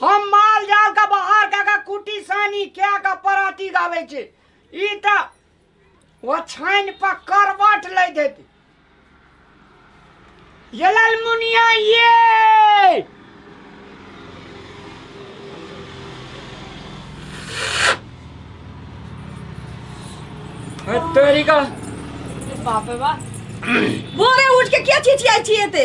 हम माल जाल के बाहर कऽ के कुटी सानी कए के पराती गाबै छी ई तऽ ओछानि पर करवट लैत हेतै ये लालमुनिया ये तोरी का बाप रे बाप भोरे उठ के क्या चिचियाई छिए ते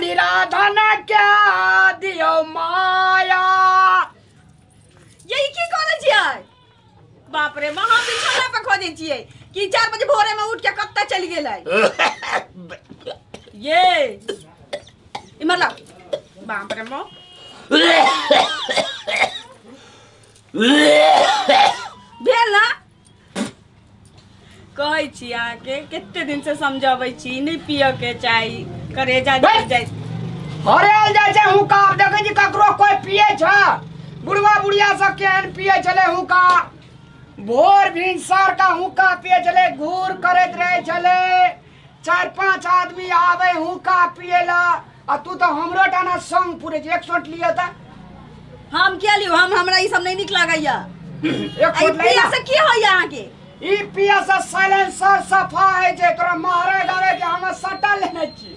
निराधन के दियो माया यही की करै छियै बाप रे माँ हम बिछौना पर खोजै छियै कि चार बजे भोरे में उठ के कत्ता चलि गेलै ये इमर ला बाप रे माँ भेल ना कहै छी अहाँके कते दिन से समझबै छी नहि पियऽ के चाही करेजा जल जाइ हरेल जाइ छै हुक्का आब देखै छी ककरो कोइ पिए छ बुढ़वा बुढ़िया सब केहन पिए छलै हुक्का भोर भिनसर का हुक्का पिए छलै घूर करैत रहै छलै चारि पाँच आदमी आवे हुक्का पिए ला आ तू तो हमरो डाना संग पूरे एक शॉट लिया था हम के लियो हम हमरा ई सब नहीं निक लागैया एक आई शॉट पिया लेना से की होइया अहाँ के ई पिया से साइलेंसर सफा है जे तोरा मारे गावे के हम सटा लेने छी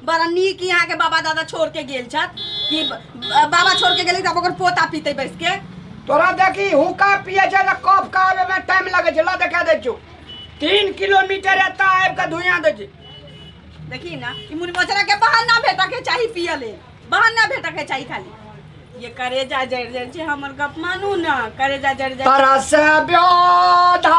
बड़ा नीक यहाँ के बाबा दादा छोड़ के गेल छत कि ब- बाबा छोड़ के गेले तब ओकर पोता पीते बैस के तोरा देखी हुक्का पिए छै तऽ कप का आबे में टाइम लगे छै ला देखा दै छियौ तीन किलोमीटर एतऽ आबि कऽ धुइयाँ दै छै देखी ना ई मुनि मोचरा के बहाना भेटा के चाही पिए ले बहाना भेटा के चाही खाली ये करेजा जड़ जड़ छै हमर गप मानू ना करेजा जड़ जड़ तरस ब्योधा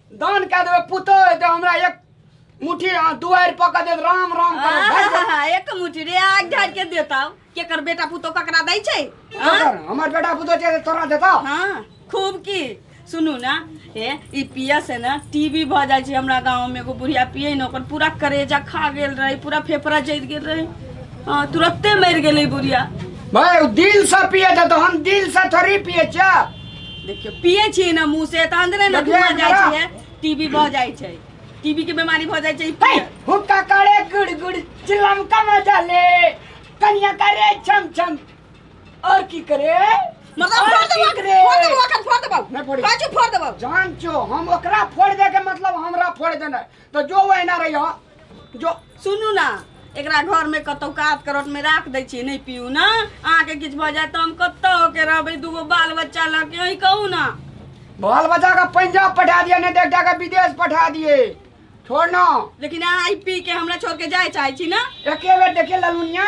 दान कए देबै पुतो हेतै हमरा एक मुट्ठी अहाँ दुआरि पकड़ देत राम राम करत भागि जाएत। आहा, एक मुठी रे आग झाड़ के देता केकर बेटा पुतो ककरा दै छै हाँ? ककर? हमर बेटा पुतो छै तऽ तोरा देता हाँ खूब की सुनू ना ए ई पिया से ना टीबी भऽ जाइ छै हमरा गाँव में एगो बुढ़िया पिए न ओकर पूरा करेजा खा गेल रहे पूरा फेफड़ा जैत गेल रहे हाँ तुरत्ते मरि गेलै बुढ़िया भाय दिल से पिए छै तो हम दिल से थोड़ी पिए छियै देखियो पिए छी ना मुंह से त अंदरे ना देखिए, धुआं जाय बड़ा। छै टीबी भ जाय छै टीबी के बीमारी भ जाय छै ई पिए। हुक्का करे गुड़ गुड़ चिलम का मजा ले कनिया करे छम छम और की करे मतलब और फोड़ की देबो करे? फोड़ देबो अखन फोड़ देबो नहीं फोड़ी। पाछू फोड़ देबो जान छो हम ओकरा फोड़ दे के मतलब हमरा फोड़ देना तो जो वो एना रही हो जो सुनू ना एकरा घर में कतौ कात करट में राख दै छियै नहि पीऊ ना अहाँके किछु भऽ जायत तऽ हम कतऽ होके रहबै दूगो बाल बच्चा लऽ के अहीं कहू ना बाल बच्चा का पंजाब पठा दिए नहीं देखा का विदेश पठा दिए छोड़ ना लेकिन अहाँ ई पी के हमरा छोड़ के जाय चाहै छी ना एके बेर देखे ललुनिया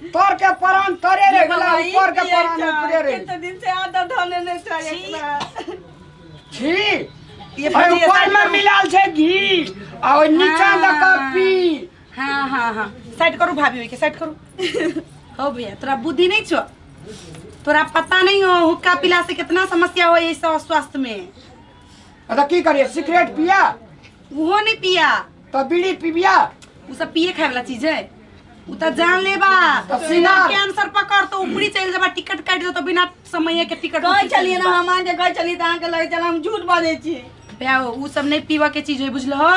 तर के परान तरे रे गेला ऊपर के परान ऊपरे रे कितने दिन से आधा धोने नहीं था एक बार छी ये और बढ़िया ऊपर में था। मिलाल छै घी और नीचा हाँ। दे के पी हाँ हाँ हाँ साइड करू भाभी ओके साइड करू हो भैया तोरा बुद्धि नहीं छो तोरा पता नहीं हो हुक्का पिला से कितना समस्या हो ये सब स्वास्थ्य में अरे की करिए सिगरेट पिया उहो नहीं पिया तो बीड़ी पीबिया उ सब पिए खाए वाला चीज है उ त जान लेबा तो सीना- सीना कैंसर पकड़ तो ऊपरी चल जाबा टिकट काट दो तो बिना समय के टिकट गए चलिए ना हम आके गए चलिए तो अहाँके लगे चल हम झूठ बाजै छी ब्याओ उ सब नहीं पीवा के चीज है बुझल हो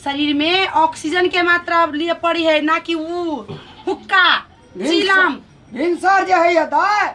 शरीर में ऑक्सीजन के मात्रा लिए पड़ी है ना कि उ हुक्का भिनसर- चीलम भिनसर जे है दाय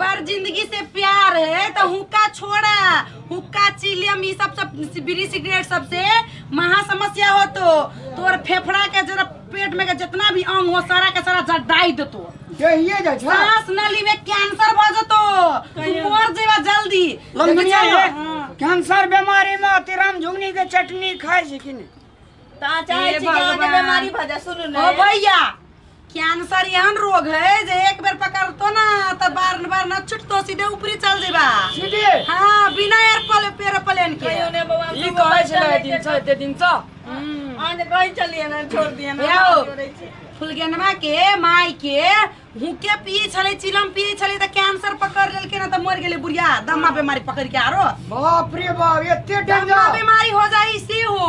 बार जिंदगी से प्यार है तो हुक्का छोड़ा हुक्का चिलियम ये सब सब बीड़ी सिगरेट सबसे महा समस्या हो तो तोर फेफड़ा के जरा पेट में के जितना भी अंग हो सारा के सारा जड़ डाई देतो यहिए जा छा सांस नली में कैंसर भ जतो तू मर जेबा जल्दी लंगनिया चलो। है हाँ। कैंसर बीमारी में अतिराम झुंगनी के चटनी खाए छै कि नहीं ता चाहे हे छी कि अहाँके भगवान। बेमारी भऽ जाय सुनू ओ ने भैया कैंसर एहन रोग है जे एक बेर पकड़तो ना तो बार बार न छुटतो सीधे ऊपरी चल जेबा सीधे हाँ बिना एयरप्लेन एरोप्लेन के कहियो ने बौआ ई कहै छलै दिन से एते दिन से आज कहि चलिए ना छोड़ दिए ना यौ। बात करै छी। फुलगेनवा के माई के हुके पिए छले चिलम पिए छले त कैंसर पकड़ लेलके ना त मर गेले बुढ़िया दम्मा बीमारी पकड़ के आरो बाप रे बाप एते दम्मा डेंजर बीमारी हो जाई से हो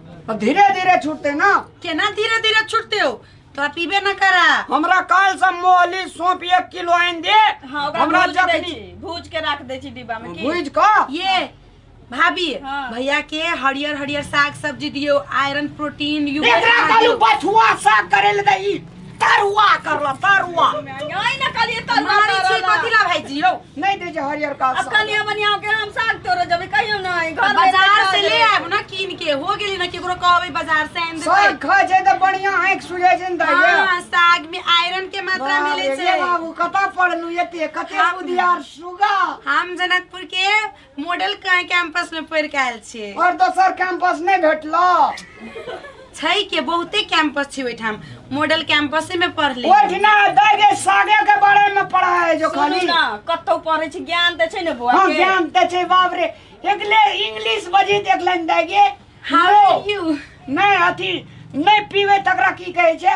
अब धीरे धीरे छूटते ना केना धीरे धीरे छूटते हो तो पीबे ना करा हमरा काल से मोहली सौंप एक किलो आनि दे हाँ ओकरा हमरा भूज दै जखनी छी भूज के राख दै छी डिब्बा में की भूज क ये भाभी हाँ। भैया के हरियर हरियर साग सब्जी दियो आयरन प्रोटीन एकरा कालू बथुआ साग करे ले दे ई तरुआ करला तरुआ नहीं ना कलिए तो मारी छी कथी ला भाई जी यौ नहीं दे जे हरियर का अब कलिए बनिया के हम साग तोड़ जबे कहियो ना है, घर में बाजार से ले बैठल आब ना कीन के हो गेली ना केकरो कहबै बाजार से आनि साग देतै खाए छै त बढ़िया आँख सुझै छै न दाइया हाँ, साग में आयरन के मात्रा बाप मिले रे, छै बाबू कतऽ पढ़लू एते कते हम- बुधियार सुगा हम जनकपुर के मॉडल कहीं कैंपस में पढ़ के आयल छियै और दोसर कैंपस नहीं भेटलो छै के बहुते कैंपस छै ओहिठाम मॉडल कैंपसे में पढ़ ले ओठना दे जे सागे के बारे में पढ़ा है जो सुनू खाली ना कतौ पढ़ै छी ज्ञान तऽ छै ने बौआ हाँ के ज्ञान ते छै बाप रे एकले इंग्लिश बजी देख लेन दे गे हाउ आर यू नहीं अथी नहीं पीवे तकरा की कहे छै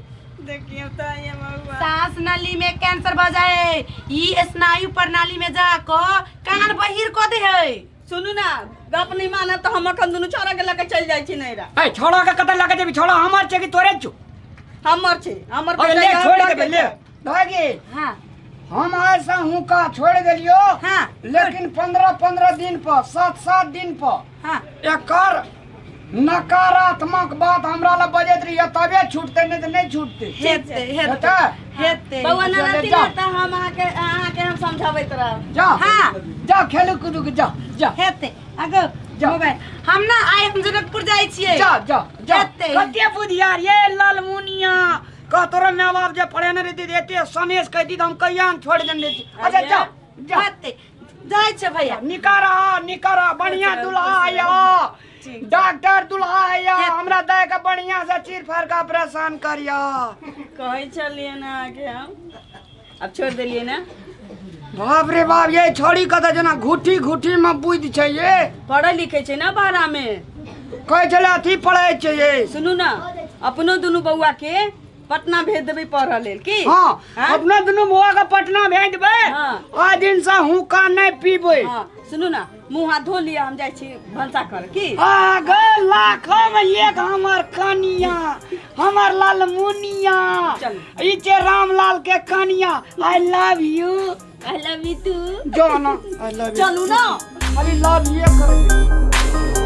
देखियो तो ये महुआ सांस नली में कैंसर भ जाए ई स्नायु प्रणाली में जाको कान बहिर क दे है सुनू ना गप नहीं माना तो हम अखन दुनू छोरा के लेके चल जाई छी नैरा ए छोड़ा के कतल लगे जेबी छोड़ा हमर छे कि तोरे छु हमर छी हमर अरे ले छोड़ दे ले भागी हाँ हम आए से हुका छोड़ देलियो हाँ लेकिन पंद्रह पंद्रह दिन पर सात सात दिन पर हाँ एकर नकारात्मक बात हमरा ला बजैत रहिए तबे छूटते नहीं तो नहीं छूटते हेते हेते बेटा हेते बौआ ना रहती ना त हम अहाँ के अहाँ के हम समझाबैत रहब जा हाँ जा खेलू कूदू के जा जा हेते अगो जा। मोबाइल हम ना आइ हम जनकपुर जाइ छियै जा जा जा हेतै। कते बुधियार ये लालमुनिया कह तोरा माय बाप जे पढ़ेने रहती जे एते सनेश कह दी हम कहिया ने छोड़ देने रहती अच्छा जा जा बाते जाइ छै भैया निकारा निकारा बढ़िया दुल्हा आया ठीक। डॉक्टर दुल्हा आया हमरा दे के बढ़िया से चीर फाड़ के ऑपरेशन करिया कहै छलियै ने अहाँके हम अब छोड़ दिलिए ना बाप रे बाप ये छोड़ी कत जना घुटी घुटी में बुद्धि छै ये पढ़े लिखे छै ना बाहरा में कहै छले अथी पढ़ै छै ये सुनू ना अपनो दुनू बौआ के पटना भेज देबै पढ़ऽ लेल की हाँ हाँ? अपना दुनू बौआ के पटना भेज देबै हाँ। आ दिन से हुक्का नहीं पीबै हाँ, सुनू ना मुँह हाथ धो लिअ हम जाइ छी भनसा कर की आ गए लाखम एक हमर कनिया हमर लाल मुनिया चल। ई जे रामलाल के कनिया I love you I love you too जो ना आई लव यू चलू ना अरे लव ये कर